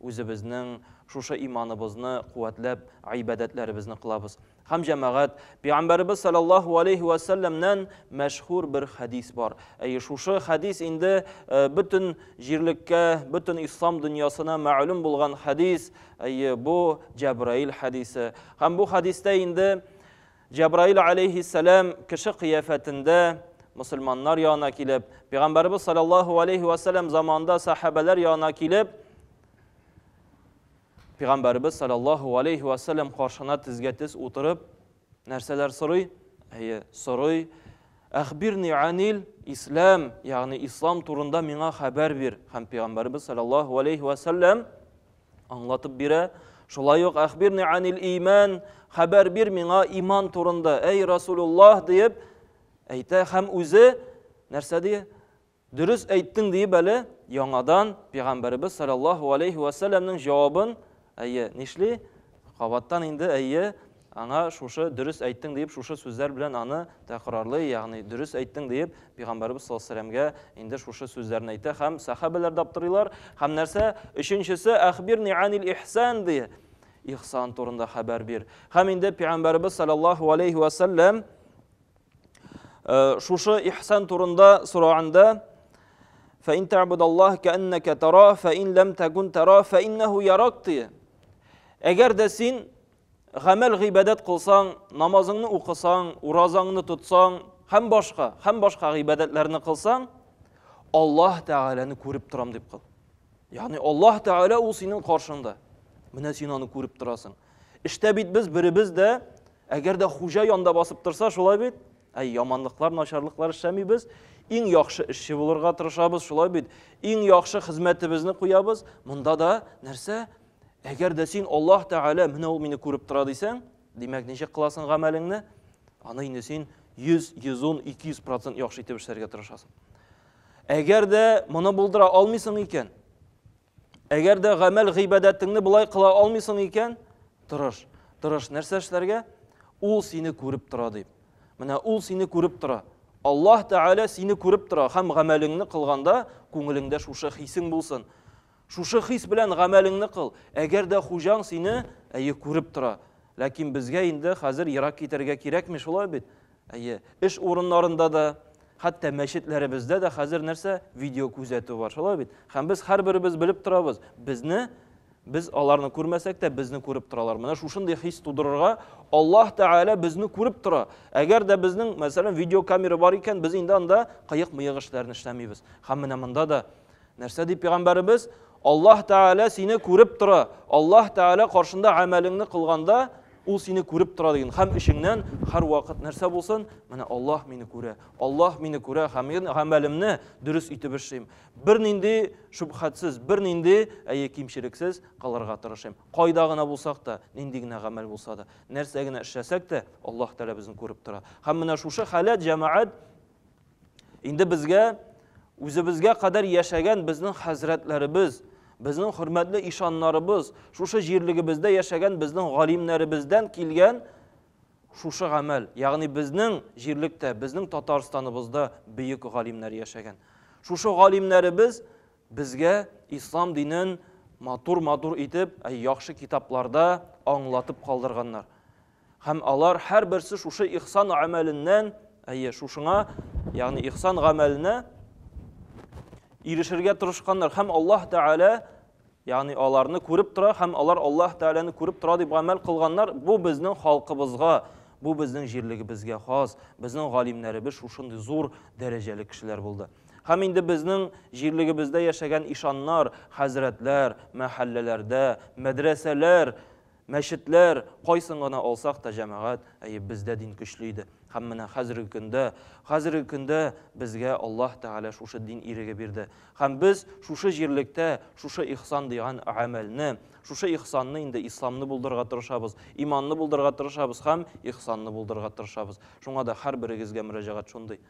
Үзебезнең шушы иманыбызны куәтләп, гыйбадәтләребезне кылабыз. Һәм, җәмәгать, Пәйгамбәребез салләллаһу алейһи вә сәлләмнән мәшһүр бер хәдис бар. Әйе, шушы хәдис инде э, бөтен җирлеккә, бөтен ислам дөньясына мәгълүм булган хәдис. Әйе, бу Җәбраил хәдисе. Һәм бу хәдистә инде Җәбраил галәйһиссәлам кеше кыяфәтендә мөселманнар янына килеп, пәйгамбәребез саллаллаһу алейһи ва сәлләм заманында сахабәләр янына килеп, пәйгамбәребез саллаллаһу алейһи ва сәлләм каршына тезгә тез утырып, нәрсәләр сорый? Әйе, сорый. Әхбирни анил ислам, ягъни ислам турында миңа хәбәр бир. Һәм пәйгамбәребез саллаллаһу алейһи ва сәлләм Аңлатып бирә. Шулай ук әхбирни анил иман, хәбәр бир миңа иман турында, әй Расулуллах диеп әйтә һәм үзе нәрсә ди? Дөрес әйттең диеп әле яңадан пәйгамбәребез саллаллаху алейхи ва сәлламнең җавабын әйе, нишли? Кабаттан инде, әйе, аңа шушы дөрес әйттең диеп, шушы сүзләр белән аны тәкрарлый, ягъни дөрес әйттең диеп, пәйгамбәребез саллаллаһу алейһи вәсәләмгә инде шушы сүзләрне әйтә һәм сәхабәләр дә аптырыйлар. Һәм нәрсә? Өченчесе әхбирни анил ихсан ди. Ихсан турында хәбәр бир. Һәм инде пәйгамбәребез саллаллаһу алейһи вәсәләм Э, шушы ихсан турында сораганда фәин тәбудаллаһ кәннәкә тара фәин ләм тәкун тара фәиннәһу ярак дие әгәр дә син гамәл гыйбадәт кылсаң намазыңны укысаң уразаңны тотсаң һәм башка һәм башка гыйбадәтләрне кылсаң аллаһ тәгаләне күреп торам дип кыл ягъни аллаһ тәгалә ул синең каршыңда менә син аны күреп торасың Эштә бит без беребез дә, әгәр дә хуҗа янда басып торса, шулай бит? Әй, яманлыклар, начарлыклар эшләмибез, иң яхшы эшче булырга тырышабыз, шулай бит? Иң яхшы хезмәтебезне куябыз. Монда да нәрсә? Әгәр дә син Аллаһ Тәгалә менә ул мине күреп тора дисәң, димәк, ничек кыласың гамәлеңне? Аны инде син 100, 110, 200% яхшы итеп эшләргә тырышасың. Әгәр дә моны булдыра алмыйсың икән, Әгәр дә гамәл гыйбадәтеңне болай кыла алмыйсың икән, тырыш. Тырыш нәрсә эшләргә? Ул сине күреп тора дип. Менә ул сине күреп тора. Аллаһ Тәгалә сине күреп тора һәм гамәлеңне кылганда күңелеңдә шушы хисең булсын. Шушы хис белән гамәлеңне кыл. Әгәр дә хуҗаң сине әйе күреп тора. Ләкин безгә инде хәзер ерак китәргә кирәкми шулай бит. Әйе, эш урыннарында да, хәтта мәчетләребездә дә хәзер нәрсә? Видео күзәтү бар, шулай бит? Һәм без һәрберебез белеп торабыз, безне без аларны күрмәсәк тә, безне күреп торалар. Менә шушындый хис тудырырга, Аллаһ Тәгалә безне күреп тора. Әгәр дә безнең, мәсәлән, видеокамера бар икән, без инде анда кыек-мыек эшләрне эшләмибез. Һәм менә монда да Нәрсә ди пәйгамбәребез? Аллаһ Тәгалә сине күреп тора. Аллаһ Тәгалә каршында әмәлеңне кылганда, ул сине күреп тора дигән. Хәм ишеңнән һәр вакыт нәрсә булсын? Менә Аллаһ мине күрә. Аллаһ мине күрә һәм мин гамәлемне дөрес итеп эшлим. Бернинди шубхатсыз, бернинди әйе кимчелексез кылырга тырышым. Кайда гына булсак та, нинди генә гамәл булса да, нәрсә генә эшләсәк тә, Аллаһ Тәгалә безне күреп тора. Хәм менә шушы халәт җәмәгать Инде безгә үзебезгә кадәр яшәгән безнең хәзрәтләребез, безнең хөрмәтле ишаннарыбыз, шушы җирлегебездә яшәгән безнең галимнәребездән килгән шушы гамәл, ягъни безнең җирлектә, безнең Татарстаныбызда бөек галимнәр яшәгән. Шушы галимнәребез безгә ислам динен матур-матур итеп, яхшы китапларда аңлатып калдырганнар. Һәм алар һәрберсе шушы ихсан гамәленнән, әйе, шушыңа, ягъни ихсан гамәленә ирешергә тырышканнар. Һәм Аллаһ Тәгалә, ягъни аларны күреп тора, һәм алар Аллаһ Тәгаләне күреп тора дип гамәл кылганнар. Бу безнең халкыбызга, бу безнең җирлегебезгә хас. Безнең галимнәребез шушындый зур дәрәҗәле кешеләр булды. Һәм инде безнең җирлегебездә яшәгән ишаннар, хәзрәтләр, мәхәлләләрдә, мәдрәсәләр Мәчетләр, кайсын гына алсак та җәмәгать, әйе, бездә дин көчле иде. Һәм менә хәзерге көндә, хәзерге көндә безгә Аллаһ Тәгалә шушы дин иреге бирде. Һәм без шушы җирлектә шушы ихсан дигән гамәлне, шушы ихсанны инде исламны булдырырга тырышабыз, иманны булдырырга тырышабыз һәм ихсанны булдырырга тырышабыз. Шуңа да һәрберегезгә мөрәҗәгать шундый.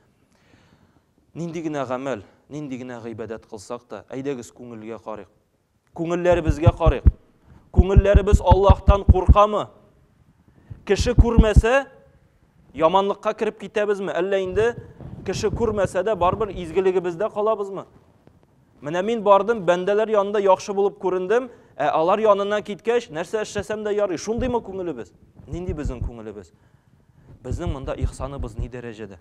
Нинди генә гамәл, нинди генә гыйбадәт кылсак та, әйдәгез күңелгә карыйк. Күңелләребезгә карыйк. Күңелләребез Аллаһтан куркамы? Кеше күрмәсә, яманлыкка кереп китәбезме? Әллә инде кеше күрмәсә дә барыбер изгелегебездә калабызмы? Менә мин бардым, бәндәләр янында яхшы булып күрендем, ә алар янына киткәч, нәрсә эшләсәм дә ярый. Шундыймы күңелебез? Нинди безнең күңелебез? Безнең монда ихсаныбыз ни дәрәҗәдә?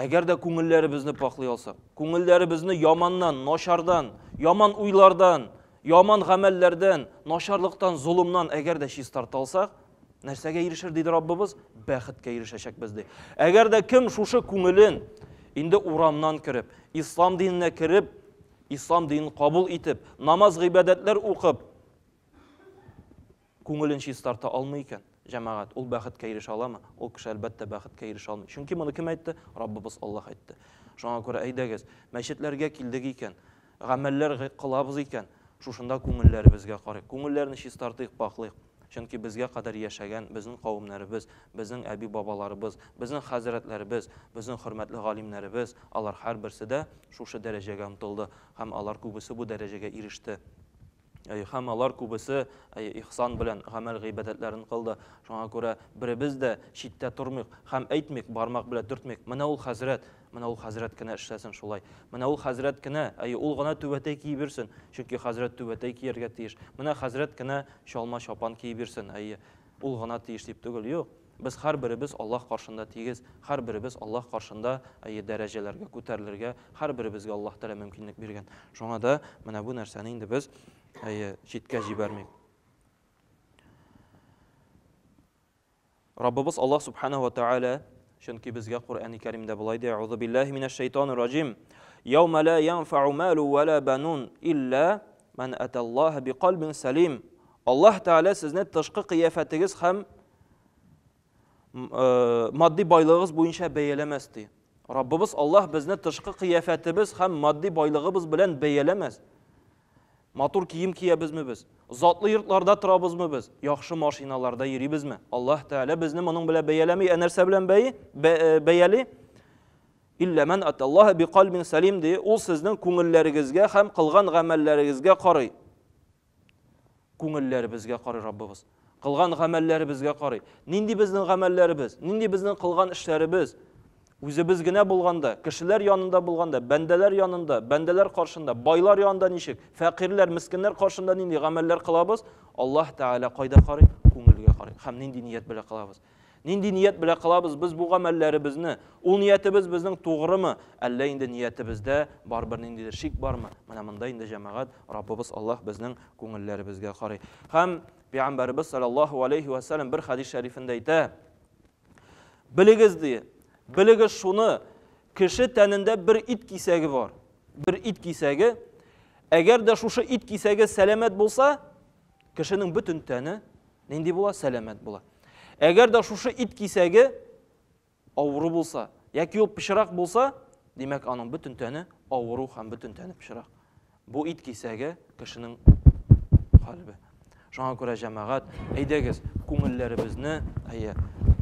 Әгәр дә күңелләребезне пакълый алсак, күңелләребезне яманнан, начардан, яман уйлардан, яман гамәлләрдән, начарлыктан, золымнан әгәр дә чистарта алсак, нәрсәгә ирешер диде Раббыбыз? Бәхеткә ирешәчәкбез ди. Әгәр дә кем шушы күңелен инде урамнан кереп, ислам диненә кереп, ислам динен кабул итеп, намаз гыйбадәтләр укып, Күңелен чистарта алмый икән, җәмәгать, ул бәхеткә ирешә аламы? Ул кеше, әлбәттә, бәхеткә ирешә алмый. Чөнки моны кем әйтте? Раббыбыз Аллаһ әйтте. Шуңа күрә, әйдәгез, мәчетләргә килдек икән, гамәлләр кылабыз икән, шушында күңелләребезгә карыйк, күңелләрне чистартыйк, пакълыйк. Чөнки безгә кадәр яшәгән безнең кавемнәребез, безнең әби-бабаларыбыз, безнең хәзрәтләребез, безнең хөрмәтле галимнәребез, алар һәрберсе дә шушы дәрәҗәгә омтылды һәм алар күбесе бу дәрәҗәгә иреште. Һәм алар күбесе ихсан белән гамәл-гыйбадәтләрен кылды. Шуңа күрә беребез дә читтә тормыйк һәм әйтмик, бармак белән төртмик, Менә ул хәзрәт, менә ул хәзрәт кенә эшләсен шулай. Менә ул хәзрәт кенә, әйе, ул гына түбәтәй киеп йөрсен, чөнки хәзрәт түбәтәй кияргә тиеш. Менә хәзрәт кенә чалма-чапан киеп йөрсен, әйе, ул гына тиеш дип түгел, юк. Без һәрберебез Аллаһ каршында тигез, һәрберебез Аллаһ каршында әйе дәрәҗәләргә күтәрелергә һәрберебезгә Аллаһ Тәгалә мөмкинлек биргән. Шуңа да менә бу нәрсәне инде без әйе читкә җибәрмик. Раббыбыз Аллаһ Субхана ва Тәгалә чөнки безгә Коръәни Кәримдә болай ди, Аузу биллаһи минәш шәйтанир раҗим. Яума ла янфау малу ва ла банун илля ман аталлаһа бикалбин салим. Аллаһ Тәгалә сезне тышкы кыяфәтегез һәм матди байлыгыбыз буенча бәяләмәс ди. Раббыбыз Аллаһ безне тышкы кыяфәтебез һәм матди байлыгыбыз белән бәяләмәс. Матур кием киябезме без? Затлы йортларда торабызмы без? Яхшы машиналарда йөрибезме? Аллаһ Тәгалә безне моның белән бәяләми, ә нәрсә белән бәи? Э, бәяли? Иллә ман аталлаһа биқалбин салим ди. Ул сезнең күңелләрегезгә һәм кылган гамәлләрегезгә карый. Күңелләребезгә карый Раббыбыз. Кылган гамәлләребезгә карый. Нинди безнең гамәлләребез, нинди безнең кылган эшләребез? Үзебез генә булганда, кешеләр янында булганда, бәндәләр янында, бәндәләр каршында, байлар янында ничек, фәкыйрьләр, мескеннәр каршында нинди гамәлләр кылабыз? Аллаһ Тәгалә кайда карый? Күңелгә карый. Һәм нинди ният белән кылабыз? Нинди ният белә кылабыз без бу гамәлләребезне? Ул ниятебез безнең тугрымы? Әллә инде ниятебездә барыбер ниндидер шик бармы? Менә монда инде җәмәгать Раббыбыз Аллаһ безнең күңелләребезгә карый. Һәм Пәйгамбәребез саллаллаһу алейхи ва саллям бер хадис шәрифендә әйтә, Белегез ди, белегез шуны, кеше тәнендә бер ит кисәге бар. Бер ит кисәге. Әгәр дә шушы ит кисәге сәламәт булса, Кешенең бөтен тәне нинди була? Сәламәт була. Әгәр дә шушы ит кисәге авыру булса, яки ул пычрак булса, димәк, аның бөтен тәне авыру һәм бөтен тәне пычрак. Бу ит кисәге кешенең калбе. Шуңа күрә җәмәгать, әйдәгез, күңелләребезне, әйе,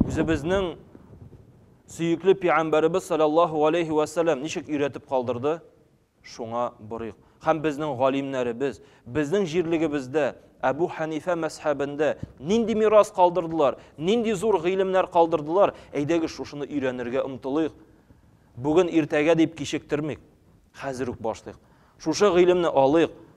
үзебезнең сөекле пигамбәребез саллаллаһу алейхи ва саллям ничек өйрәтеп калдырды? Шуңа борыйк. Һәм безнең галимнәребез, безнең җирлегебездә, Әбү Хәнифә мәзһәбендә нинди мирас калдырдылар, нинди зур гыйлемнәр калдырдылар, әйдәгез шушыны өйрәнергә омтылыйк. Бүген иртәгә дип кичектермик. Хәзер үк башлыйк. Шушы гыйлемне алыйк,